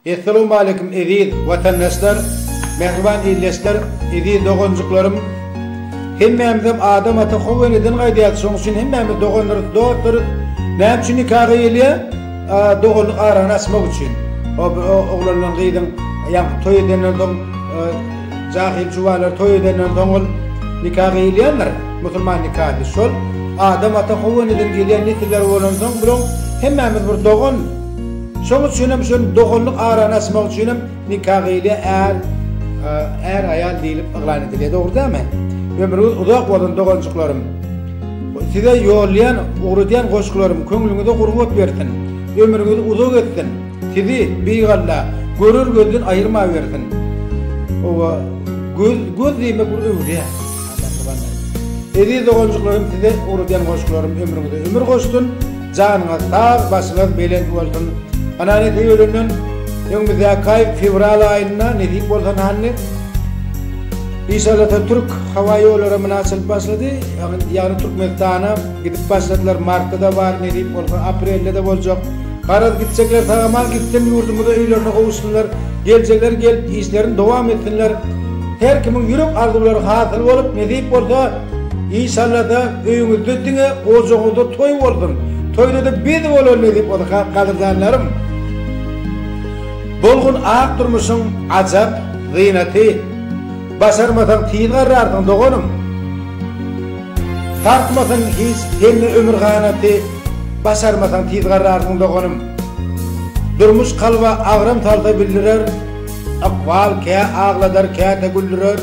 Essalawmaleýkum eziz watandaşlar, mähriban ildeşler, eziz doganjyklarym. Hemmämizem Adam ata Hawa eneden gaýdýarys, şonuň üçin hemmämiz doganlarys, dostlarys. Näme üçin nika gyýylýar? Doganlyk arany açmak üçin. Oglan bilen gyzyň ýa toý edenden soň Jahyl jubalar toý edenden soň ol nika gyýylýandyr, musulman nikasy. Şol Adam ata Howanydan gelýän nesiller bolansoň bulaň hemmämiz bir dogan. Şoň üçin hem şol doganlyk arany açmak üçin hem nika gyýylýar, är, är aýal diýlip yglan edilýär. Dogry dälmi? Ömrüňiz uzak bolsun doganjyklarym. Size ýollaýan, ugradýan goşgularym köňlüňize gurbat bersin. Ömrüňiz uzak etsin. Sizi, Beýik Alla, görer gözden aýyrmawersin. Oba, göz, göz diýmek bir öwre. Eziz doganjyklarym size ugradýan goşgularym ömrüňize ömür goşsun, janyňyz sag, başyňyz belent bolsun. Ana nesip edenden öňümizdäki aý fewral aýynda nesip bolsa nanny Işallata türk hawa ýollary muna açylyp başlady. Ýagny Türkmenistana gidip başladylar. Martda-da bar, nesip bolsa aprelde-de boljak. Garaz gitjekler sag aman gitsin ýurdumyza öýlerine gowuşsynlar geljekler gelip işlerini dowam etsinler her kimiň ýürek arzuwlary hasyl bolup nesip bolsa inşallada öýüňizde diňe ojagyňyzda toý bolsun toýdada biz bolan nesip bolsa gadyrdanlarym bolgun ak durmuşyň ajap zynaty başarmasaň tiz garrarsyň doganym. Sarsmasyn hiç hemme ömür ganaty Başarmasaň tiz garrarsyň doganym Durmuş kalba agram salsa bildirer Ykbal kä agladar käte güldürer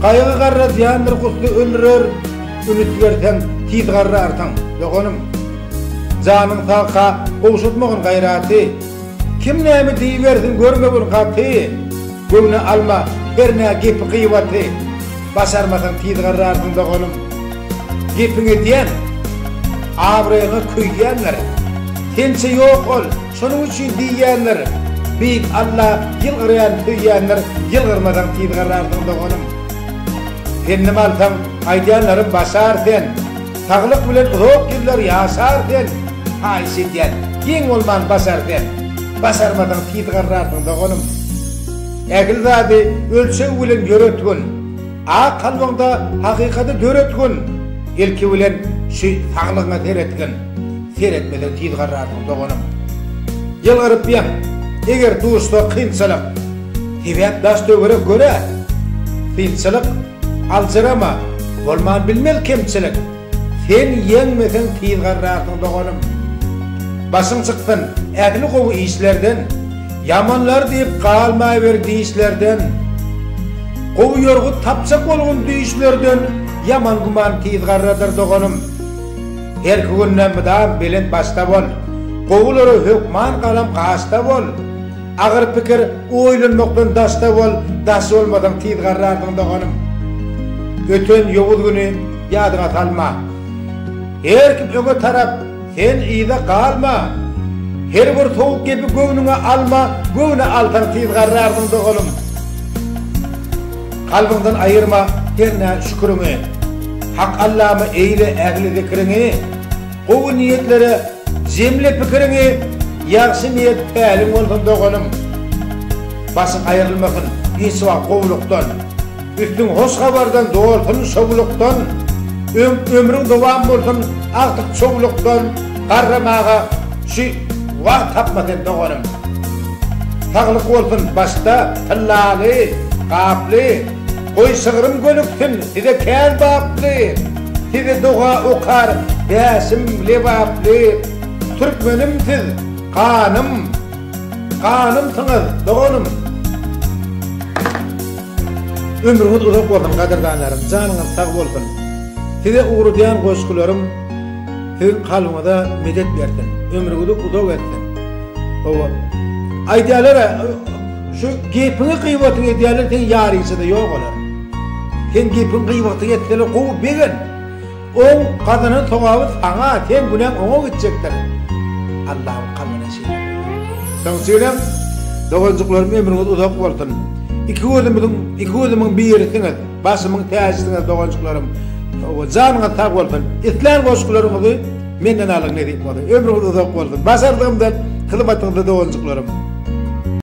Gaýgy garra zyýandyr gusly öldürer Üns berseň tiz garrarsyň doganym Janyň sag ha gowşatmagyn gaýraty Kim näme diýibersin görmegin gaty, Göwne alma her nä gepi gyýbaty, Başarmasaň tizgarrarsyň doganym. Gepiň edýän, abraýyňa köýýänler, Sençe ýok ol, şonuň üçin diýýänler, Beýik Alla ýylgyrýan söýýänler, Ýylgyrmasaň tizgarrarsyň doganym. Pendim alsaň aýdýanlarym başar sen. Saglyk bilen uzak ýyllar ýaşar sen, haýyş edýän, geň bolman basar sen. Basarmasaň tiz garrarsyň doganym. Ähli zady ölçeg bilen ýöretgin. Ak kalbyňda hakykady döretgin. Ilki bilen şu saglygyňa seretgin. Seretmeseň tiz garrarsyň doganym. Ýylgyrypýaň, eger duşsa kynçylyk. Sebäp daş-töwerek göre synçylyk, aljyrama, bolman bilmez kemçilik, Sen ýeňmeseň tiz garrarsyň doganym. Başyň çyksyn ähli gowy işlerden, Ýamanlar diýip galmaýber dişlerden. Gowy ýorgut tapjak bolgun düýşlerden, Ýaman güman tiz garradyr doganym. Herki günde mydam belent başda bol, Gowulara hökman galam gaşda bol. Agyr pikir oýlanmakdan daşda bol, daş bolmasaň tiz garrarsyň doganym. Öten ýowuz güni ýadyňa salma. Her kim öňe tarap, sen yza galma. Her bir sowuk gepi göwnüňe alma, göwne alsaň tiz garrarsyň doganym. Kalbyňdan aýyrma hernä şüküriňi, Hak Allama eýle ähli zikriňi. Gowy niýetlere jemle pikiriňi ýagşy niýet päliň bolsun doganym. Başyň aýrylmasyn hiç wagt gowlukdan, üstüň hoş habardan dolsun şowlukdan, öň ömrüň dowam bolsun agtyk çowlukdan garramaga şu wagt tapma sen doganym. Saglyk bolsun başda tyllaly, gaply. Goý şygrym gönüksin size kän baply, Size doga okar bäşim lebaply. Türkmenim siz ganym, ganymsyňyz doganym. Ömrüňiz uzak bolsun gadyrdanlarym, janyňyz sag bolsun. Size ugradýan goşgularym siziň kalbyňyza medet bersin, ömrüňizi uzak etsin. Hawa, aýdýalar-a, Şu gepiňi gybatyňy edýärler seň ýaryçada ýok olar. Seň gepiň gybatyňy etseler gowy begent. Oň gazanan sogaby saňa seň günäň oňa gitjekdir. Allahym kalbyna şeýle buýurdy. Soň üçiňizem doganjyklarym ömrüňiz uzak bolsun. Iki gözümiziň iki gözümiň birisiňiz, başymyň täjisiňiz doganjyklarym. Hawa janyňyz sag bolsun. Islän goşgularyňyzy menden alyň nesip bolsa. Ömrüňiz uzak bolsun. Başardygymdan hyzmatyňyzda doganjyklarym.